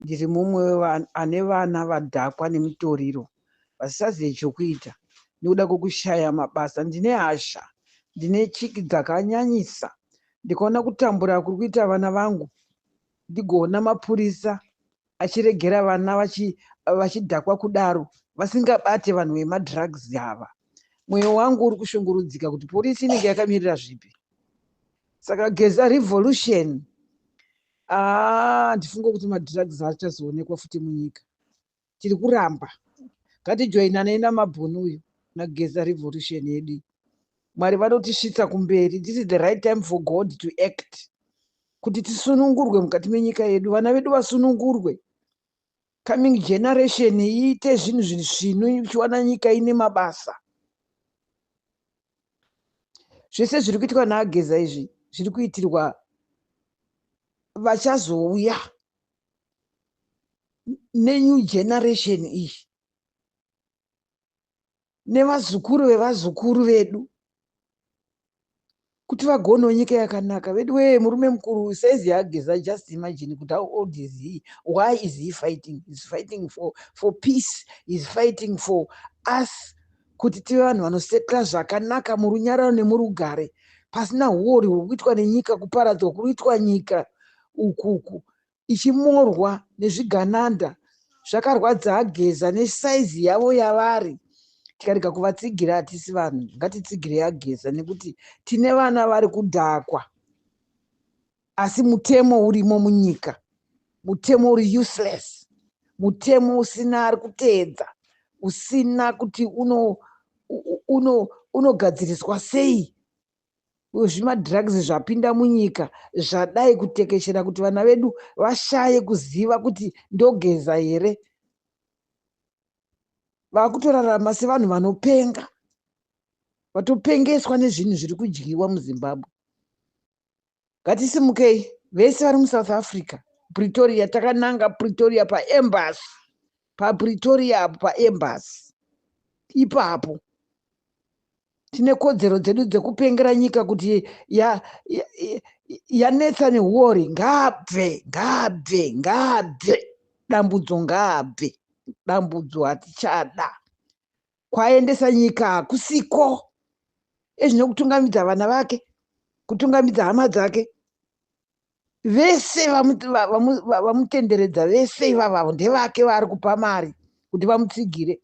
ndiri mumwe wevanhu ane vana vadhakwa nemutoriro vasisazive chokuita nekuda kwekushaya mabasa ndine hasha ndine chiki dzakanyanyisa ndikaona kutambura kuri kuita vana vangu ndigoona mapurisa achiregera vana vachidhakwa kudaro vasingabate vanhu vemadrugs ava mwoyo wangu uri kushungurudzika kuti purisi inenge yakamirira zvipi saka geza revolution handifunge kuti madrugs achazoonekwa futi munyika tiri kuramba ngatijoinanei namabhoni uyu nageza revolution yedu mwari vanotisvitsa kumberi this is the right time for god to act kuti tisunungurwe mukati menyika yedu vana vedu vasunungurwe coming generation iite zvinhu zviri svinu ichiwana nyika ine mabasa zvese zviri kuitwa naageza izvi zviri kuitirwa vachazouya nenew generation iyi nevazukuru vevazukuru vedu kuti vagonewo nyika yakanaka vedu wee murume mukuru says yaageza just imagine kuti how old is he why is he fighting is fighting for, for peace is fighting for us kuti tive vanhu vanosetla zvakanaka murunyararo nemurugare pasina huori huri kuitwa nenyika kuparadzwa kuri kuitwa nyika ukuku ichimorwa nezvigananda zvakarwadza ageza nesize yavo yavari tikarega kuvatsigira hatisi vanhu ngatitsigirei ageza nekuti tine vana vari kudhakwa asi mutemo urimo munyika mutemo uri useless mutemo usina ari kuteedza usina kuti uno uno unogadziriswa sei zvimadrugs zvapinda munyika zvadai kutekeshera kuti vana vedu vashaye kuziva kuti ndogeza here vakutorarama sevanhu vanopenga vatopengeswa nezvinhu zviri kudyiwa muzimbabwe ngatisimukei vese vari musouth africa pretoria takananga pretoria paembasy papretoria apo paembasy ipapo tine kodzero dzedu dzekupengera nyika kuti yanetsa ya, ya neuori ngaabve ngaabve ngaabve dambudzo ngaabve dambudzo hatichada kwaendesa nyika hakusiko ezvine kutungamidza vana vake kutungamidza hama dzake vese vamutenderedza vese ivava ndevake vaari kupa mari kuti vamutsigire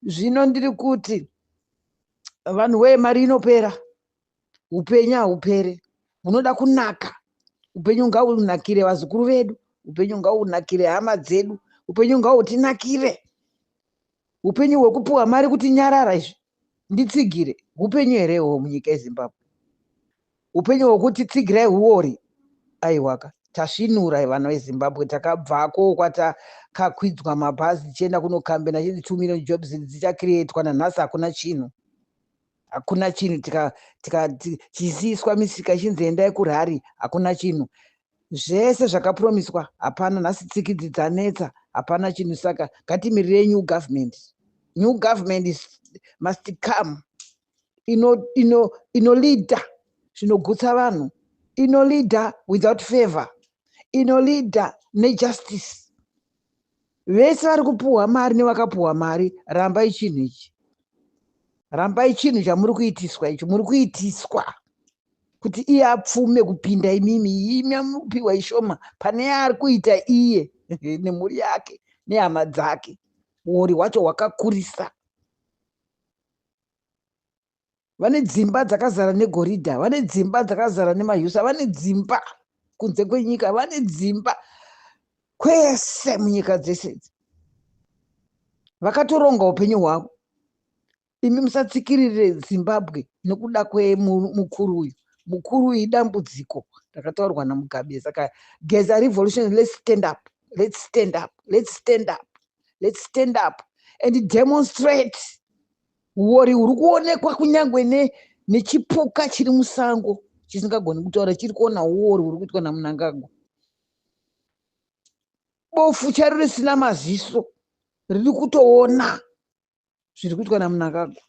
zvino ndiri kuti vanhu wee mari inopera upenyu haupere hunoda kunaka upenyu ngaunakire vazukuru vedu upenyu ngaunakire hama dzedu upenyu ngautinakire upenyu hwekupuwa mari kuti nyarara izvi nditsigire upenyu here hwo munyika yezimbabwe upenyu hwekuti tsigirai huori aiwaka tasvinura vana vezimbabwe takabvako kwatakakwidzwa mabhazi tichienda kunokambena chii two million jobs dzichakrietwa nanhasi hakuna chinhu hakuna chinhu tikaziswa misika ichinzi endai kurhari hakuna chinhu zvese zvakapromiswa hapana nhasi tsikidzi dzanetsa hapana chinhu saka ngatimirire new government new government is, must come inolida zvinogutsa vanhu inolida without favor inolida nejustice vese vari kupuhwa mari nevakapuhwa mari rambai chinhu ichi rambai chinhu chamuri kuitiswa ichi muri kuitiswa kuti iye apfume kupinda imimi imi amupiwa ishoma pane yaari kuita iye nemhuri yake nehama dzake uori hwacho hwakakurisa vane dzimba dzakazara negoridha vane dzimba dzakazara nemahusa vane dzimba kunze kwenyika vane dzimba kwese munyika dzese idzi vakatoronga upenyu hwavo imi musatsikirire zimbabwe nokuda kwemukuru uyu mukuru uyu idambudziko rakataurwa namugabe saka geza revolution let's stand up let's stand up let's stand up let's stand up and demonstrate Huwori huri kuonekwa kunyangwe ne, nechipuka chiri musango chisingagoni kutaura chiri kuona huwori huri kuitwa naMnangagwa. Bofu charo risina maziso riri kutoona zviri kuitwa naMnangagwa.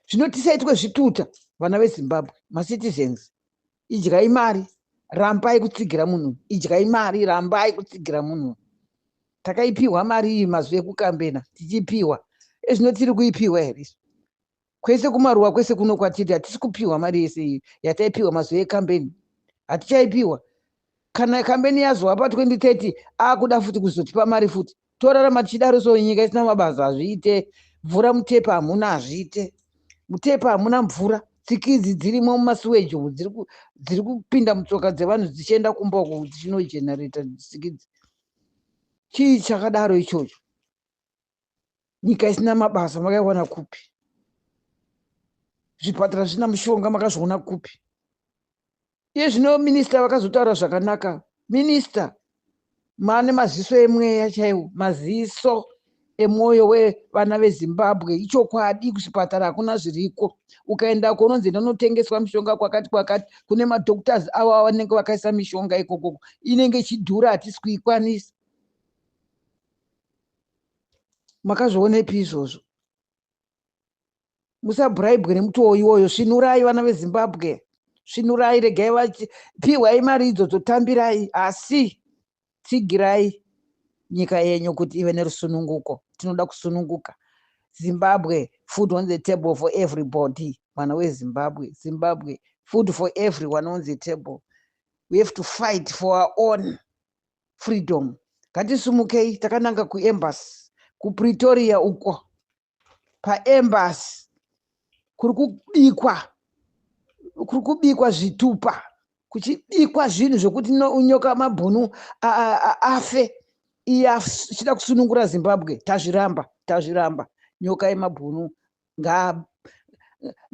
Zvino tisaitwe zvituta vana veZimbabwe, macitizens, idyai mari rambai kutsigira munhu idyai mari rambai kutsigira munhu takaipiwa mari iyi mazuva ekukambena tichipiwa ezvino tiri kuipiwa here kwese kumaruwa kwese kuno kwatiri hatisi kupiwa mari yese iyi yataipiwa mazuva ekambeni hatichaipiwa kana kambeni yazova pa 2030 akuda futi kuzotipa mari futi Torarama tichidaro so nyika isina mabasa hazviite. Mvura mutepa hamuna hazviite. Mutepa hamuna mvura. Tsikidzi dzirimo mumasuweji umu dziri kupinda mutsoka dzevanhu dzichienda kumba uko dzichinogenerator tsikidzi. Chii chakadaro ichocho? Nyika isina mabasa makaiwana kupi? Zvipatara zvisina mushonga makazviona kupi? Iye zvino minista vakazotaura zvakanaka. Minista maane maziso emweya chaiwo, maziso emwoyo wevana vezimbabwe ichokwadi kuzvipatara hakuna zviriko ukaenda kononzi enda unotengeswa mishonga kwakati kwakati kune madoctors avo avanenge vakaisa mishonga ikokoko inenge ichidhura hatisi kuikwanisa makazvionepi izvozvo musabhuraibwe nemutoo iwoyo svinurai vana vezimbabwe svinurai regai vapiwai mari idzodzo tambirai asi tsigirai nyika yenyu kuti ive nerusununguko tinoda kusununguka zimbabwe food on the table for everybody mwana wezimbabwe zimbabwe food for everyone on the table we have to fight for our own freedom ngatisumukei takananga kuembassy kupretoria uko paembasi kuri kubikwa kuri kubikwa zvitupa kuchibikwa zvinhu zvekuti unyoka mabhunu afe iye achida kusunungura zimbabwe tazviramba tazviramba nyoka yemabhunu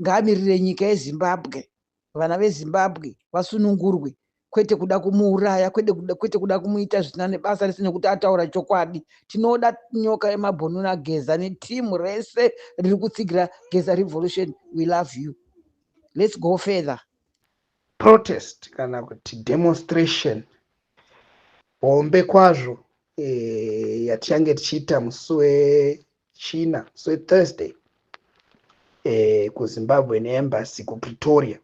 ngaamirire nyika yezimbabwe vana vezimbabwe vasunungurwe kwete kuda kumuuraya kwete kuda kumuita zvisina nebasa rese nekuti ataura chokwadi tinoda nyoka yemabhonuna geza netimu rese riri kutsigira geza revolution we love you let's go further protest kana kuti demonstration hombe kwazvo e, yatichange tichiita musi china so thursday eh, kuzimbabwean embassy kupretoria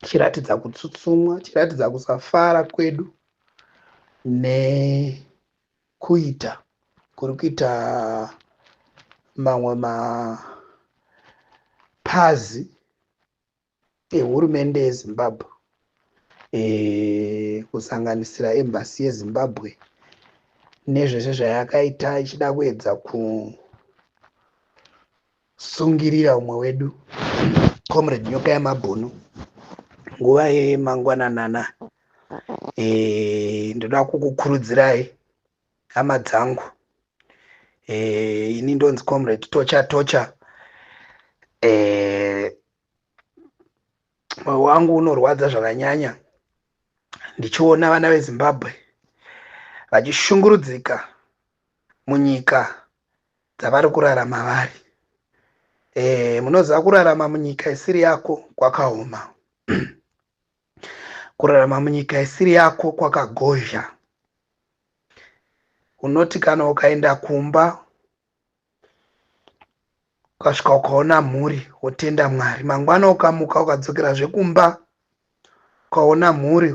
chiratidza kutsutsumwa chiratidza kusafara kwedu nekuita kuri kuita mamwe mapazi ehurumende yezimbabwe e, kusanganisira embasi yezimbabwe nezvese zvayakaita ichida kuedza kusungirira umwe wedu comrade nyoka yamabhunu nguva yemangwananana e, ndoda kukukurudzirai hama dzangu e, ini ndonzi comrade tocha tocha e, moyo wangu unorwadza zvakanyanya ndichiona vana vezimbabwe vachishungurudzika munyika dzavari kurarama vari e, munoziva kurarama munyika isiri yako kwakaoma kurarama munyika isiri yako kwakagozha unoti kana ukaenda kumba ukasvika ukaona mhuri wotenda mwari mangwana ukamuka ukadzokera zvekumba ukaona mhuri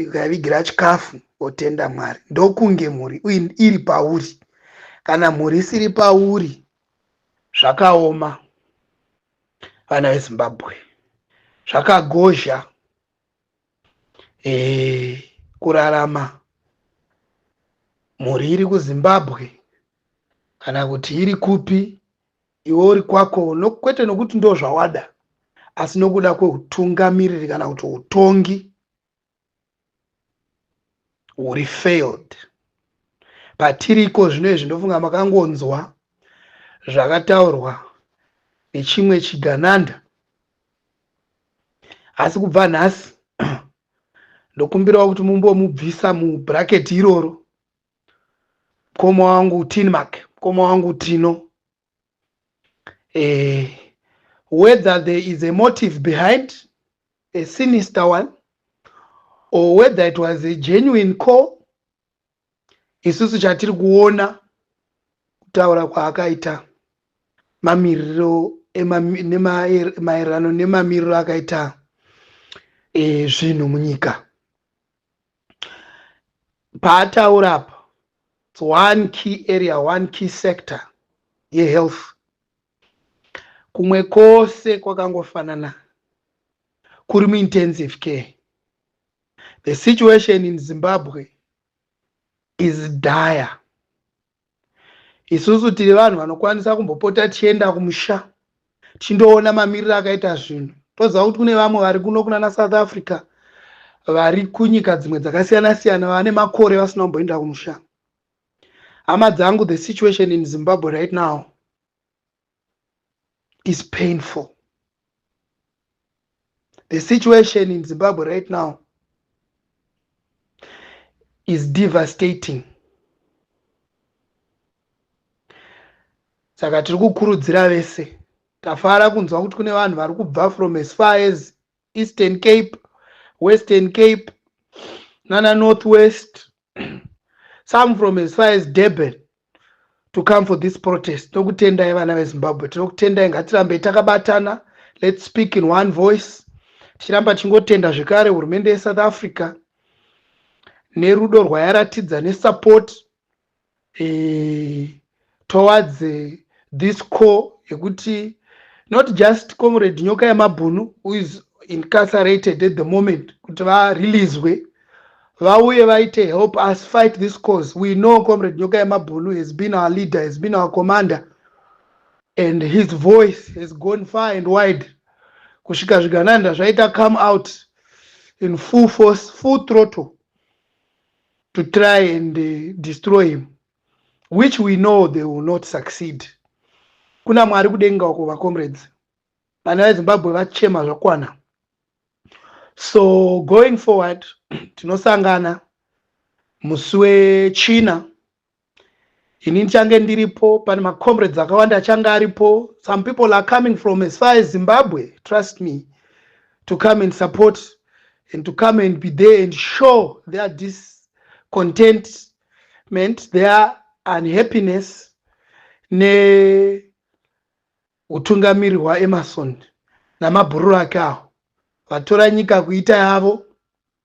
ukavigira chikafu wotenda mwari ndokunge mhuri iri pauri kana mhuri isiri pauri zvakaoma vana vezimbabwe zvakagozha eh, kurarama mhuri iri kuzimbabwe kana kuti iri kupi iwe uri kwako no, kwete nokuti ndo zvawada asi nokuda kweutungamiriri kana kuti utongi huri failed patiriko zvino izvi ndofunga makangonzwa zvakataurwa nechimwe chigananda asi kubva nhasi ndokumbirawo kuti mumbomubvisa mubraketi iroro mkoma wangu tinmark mkoma wangu tino eh, whether there is a motive behind a sinister one or whether it was a genuine call isusu chatiri kuona kutaura kwaakaita mamiriro maererano nemamiriro akaita e, zvinhu munyika paataura apa its one key area one key sector yehealth kumwe kose kwakangofanana kuri muintensive care The situation in Zimbabwe is dire. Isusu tiri vanhu vanokwanisa kumbopota tichienda kumusha tichindoona mamiriro akaita zvinhu toziva kuti kune vamwe vari kuno kunana south africa vari kunyika dzimwe dzakasiyana siyana vane makore vasina kumboenda kumusha hama dzangu the situation in zimbabwe right now is painful the situation in zimbabwe right now is devastating saka tiri kukurudzira vese tafara kunzwa kuti kune vanhu vari kubva from as far as eastern cape western cape nana north west some from as far as durban to come for this protest tokutendai vana vezimbabwe tinokutendai ngatirambei takabatana let's speak in one voice tichiramba tichingotenda zvekare hurumende yesouth africa nerudo rwayaratidza nesupport eh, towards eh, this core yekuti not just comrade nyoka yemabhunu who is incarcerated at the moment kuti vareleaswe vauye vaite help us fight this cause we know comrade nyoka yemabhunu has been our leader has been our commander and his voice has gone far and wide kusvika zvigananda zvaita come out in full force full throttle to try and uh, destroy him which we know they will not succeed kuna mwari kudenga uko vacomrades vana vezimbabwe vachema zvakwana so going forward tinosangana musi wechina ini ndichange ndiripo pane macomrades akawanda achange aripo some people are coming from as far as zimbabwe trust me to come and support and to come and be there and show their discontentment their unhappiness neutungamiri hwaemerson namabhururu ake awo vatora nyika kuita yavo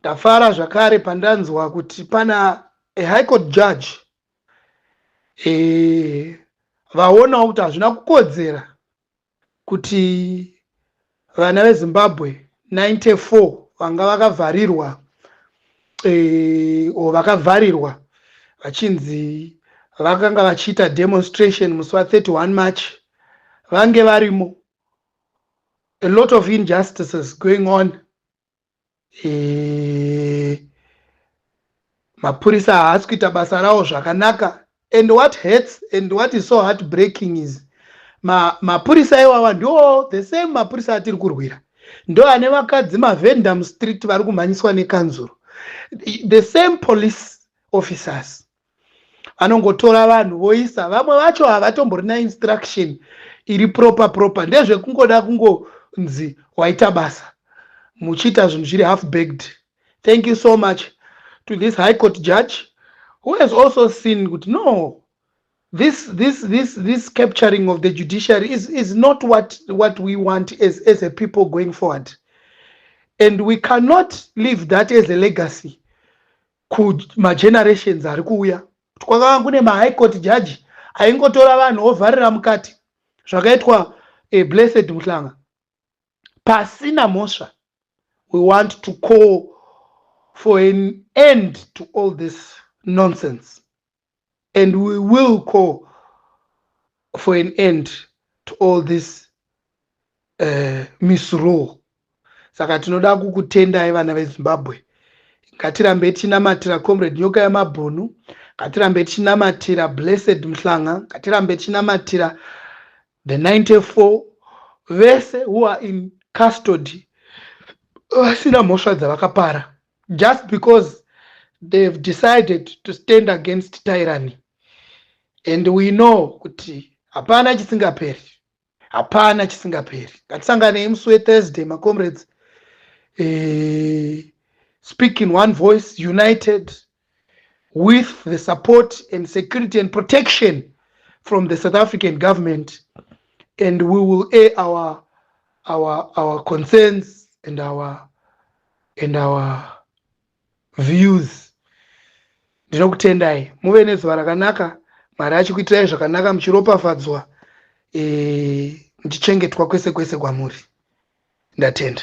Ndafara zvakare pandanzwa kuti pana a high court judge eh, vaonawo kuti hazvina kukodzera kuti vana vezimbabwe 94 vanga vakavharirwa eh, o vakavharirwa vachinzi vakanga vachiita demonstration musi wa 31 march vange varimo a lot of injustices going on e, mapurisa haasi kuita basa rawo zvakanaka and what hurts and what is so heartbreaking is mapurisa ma iwawa ndo the same mapurisa atiri kurwira ndo ane vakadzi mavhenda mustreet vari kumhanyiswa nekanzuro the same police officers anongotora vanhu voisa vamwe vacho havatomborina instruction iri proper proper ndezvekungoda kungonzi waita basa muchiita zvinhu zviri half bagged thank you so much to this high court judge who has also seen kuti no this this this this capturing of the judiciary is, is not what what we want as, as a people going forward and we cannot leave that as a legacy kumagenerations ari kuuya kuti kwakanga kune mahigh court judge aingotora vanhu ovharira mukati zvakaitwa eh, blessed muhlanga pasina mhosva we want to call for an end to all this nonsense and we will call for an end to all this uh, misrule saka tinoda kukutendai vana vezimbabwe ngatirambe tichinamatira comrade nyoka yamabhunu ngatirambe tichinamatira blessed mhlanga ngatirambe tichinamatira the 94 vese who are in custody vasina mhosva dzavakapara just because they have decided to stand against tyranny and we know kuti hapana chisingaperi hapana chisingaperi ngatisanganei musi wethursday macomrades eh, speak in one voice united with the support and security and protection from the south african government and we will air our, our, our concerns and our, and our views ndinokutendai muve nezuva rakanaka mwari achikuitirai zvakanaka muchiropafadzwa eh, muchichengetwa kwese kwese kwamuri ndatenda